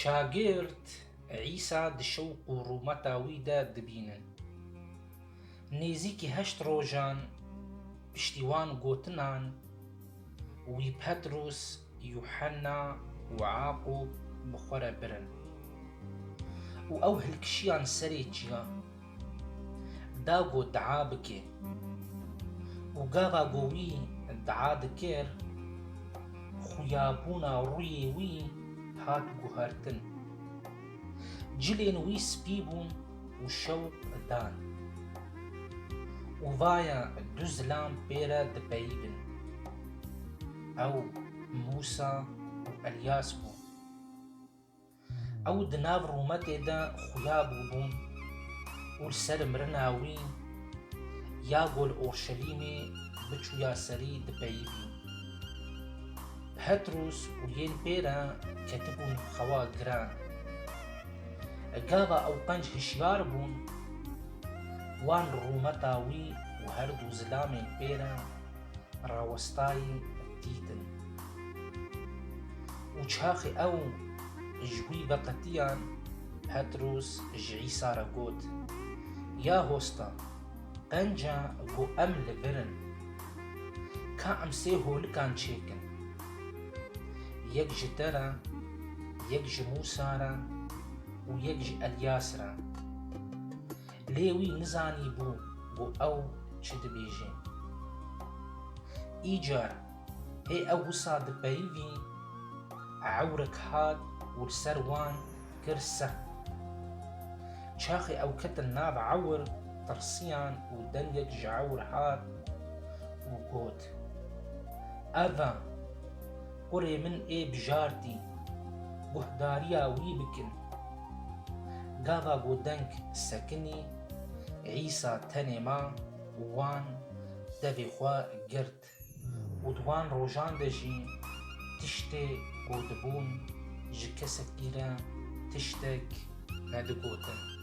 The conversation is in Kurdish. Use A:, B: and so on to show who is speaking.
A: Şagird Îsa di şewq û rûmeta wî de dibînin. Nêzîkî heşt rojan piştî wan gotinan, wî Petrûs, Yuhenna û Aqûb bi xwe re birin û ew hilkişiyan serê çiyan. da ku dua bike û gava ku wî dua dikir xuyabûna rûyê wî hat guhertin. Cilên wî spî bûn û şew dan. Û vaya du zilam pê re dipeyivin. Ew Mûsa û Elyas bûn. Ew di nav rûmetê de xuya bûbûn û li ser mirina wî ya gol Orşelîmê biçûya serî dipeyivî. Petrûs û yên pê re ketibûn xewa giran. Gava ew qenc hişyar bûn, wan rûmeta wî û her dû zilamên pê re rawestayî dîtin û çaxê ew ji wî veqetiyan Petrûs ji Îsa re got, Ya hosta, qenca ku em li vir in, ka em sê holikan çêkin, yek ji te re, yek ji Mûsa re û yek ji Elyas re. Lê wî nizanîbû ku ew çi dibêje. Îcar hê ew wisa di peyivî ewrik hat û li ser wan kir sext. Çaxê ew ketin nav ewr tirsiyan û dengek ji ewr hat û got, Eva! Kurê min ê bijartî, guhdariya wî bikin. Gava ku deng sekinî, Îsa tenê ma û wan devê xwe girt û di wan rojan de jî tiştê ku dibûn ji kesekî re tiştek nedigotin.